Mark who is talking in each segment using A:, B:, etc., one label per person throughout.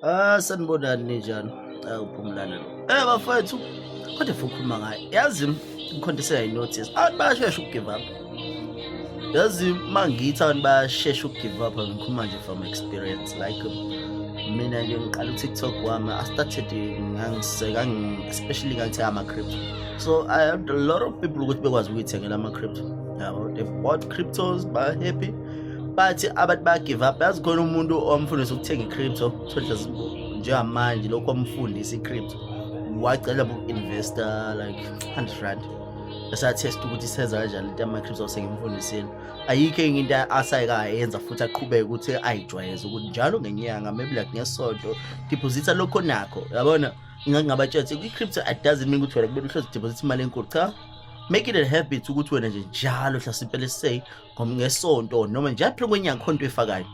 A: Ah sanibonani ninjani? Awu phumlana lo. Eh bafethu kodwa fukhuluma ngaye. Yazi ngikhontesela inothi. Abantu bayashesha ukugive up. Yazi mangithi abantu bayashesha ukugive up ngikhuluma nje from experience like mina nje ngiqala uTikTok wami I started ngangiseka especially ngangithe ama crypto. So I had a lot of people ukuthi bekwazi ukuyithengela ama crypto. Yabo they bought cryptos by happy bathi abantu ba give up yazi khona umuntu omfundisa ukuthenga i-crypto sodla njengamanje lokho omfundisa i-crypto wacela bu-investor like 100 rand esathesta ukuthi isenza kanjani into yama-crypto sengimfundisile ayikho enye into asayekayenza futhi aqhubeke ukuthi ayijwayeze ukuthi njalo ngenyanga maybe like ngesonto deposita lokho nakho yabona ngingabatshela ukuthi kwi-crypto it doesn't mean ukuthi wena kumele uhlezi deposita imali enkulu cha make it a habit ukuthi wena nje njalo hlasimpe let's say ngoba ngesonto noma nje aphile kwenye akhonto efakayo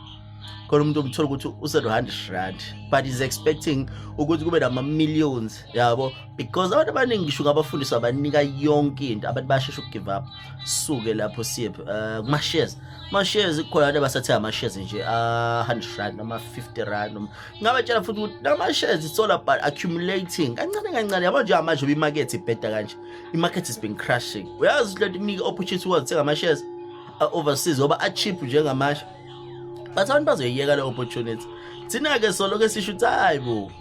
A: khona umuntu umthola ukuthi use-100 rand but is expecting ukuthi kube nama-millions yabo because abantu abaningi ngisho ngabafundiswa banika yonke into abantu bayashesha ukugive up suke lapho siye eh, kuma-shares ama-shares kukhona abantu abasathenga ama-shares nje a-100 ah, rand noma 50 rand noma ngabatshela futhi ukuthi nama-shares it's all about accumulating kancane kancane yabo nje amanje ubimakethe ibheda kanje imarket has been crashing uyazi lento ikunike opportunity wazithenga ama-shares overseas ngoba a-cheap njengamasha but abantu bazoyiyeka le opportunity thina-ke soloke sisho ukuthi hayi bo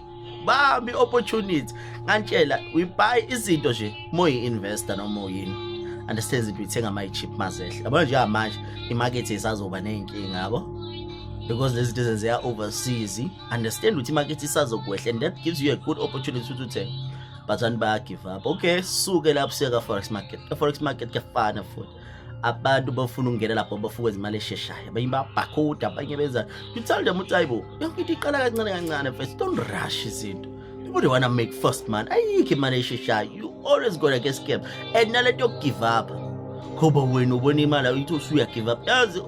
A: bambi opportunity ngantshela we buy izinto nje moyi-investor noma uyini understand izinto uyithenga mayi-cheap mazehle yabona nje amanje imarket isazoba ney'nkinga yabo because lezi zinto ezenzeka overseas understand ukuthi imarket isazokwehla and that gives you a good opportunity ukuthi uthenge bazani bayagive up okay suke lapho siya ka-forex market ka-forex market kuyafana futhi abantu bafuna ukungena lapho bafuna ukwenza imali esheshayo abanye babhakhuda abanye benza you tell them ukuthi ayibo yonke into iqala kancane kancane first don't rush izinto people don't wanna make first man ayikho imali esheshayo you always gonna get scam and nalento yokugive up ngoba wena ubona imali uyithi usuyagive up yazi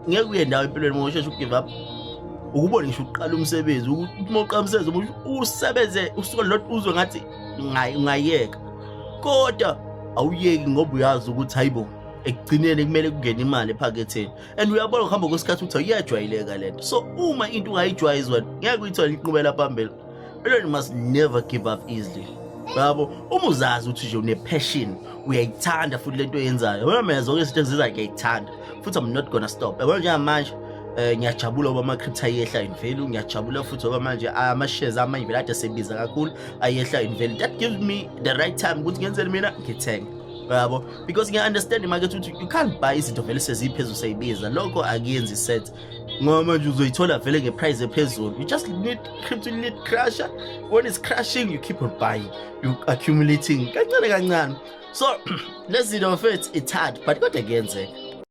A: ngeke uye ndawo empilweni uma usheshe ugive up ukubona ngisho uqala umsebenzi ukuthi uma uqala umsebenzi umusho usebenze usuku lodwa uzwe ngathi ungayeka kodwa awuyeki ngoba uyazi ukuthi hayibo ekugcineni kumele kungene imali ephaketheni and uyabona ukuhamba kwesikhathi ukuthi uyajwayeleka lento so uma into ungayijwayezi wena ngeke uyithole inqubela phambili Eleni must never give up easily. Yabo, uma uzazi ukuthi nje une passion, uyayithanda futhi lento oyenzayo. Wena mina zonke izinto engizenzayo ngiyayithanda. Futhi I'm not gonna stop. Yabo njengamanje eh ngiyajabula ngoba ama crypto ayehla in value, ngiyajabula futhi ngoba manje ama shares ama in value ade sebiza kakhulu ayehla in value. That gives me the right time ukuthi ngenzele mina ngithenge. Yabo, because ngiya understand imakethe ukuthi you can't buy izinto vele seziphezulu seyibiza. Lokho akuyenzi sense. ngoba manje uzoyithola vele ngeprice ephezulu you just need crypto need crusher when it's crushing you keep on buying you accumulating kancane kancane so lezi zinto mfethu it's hard but kodwa kuyenzeka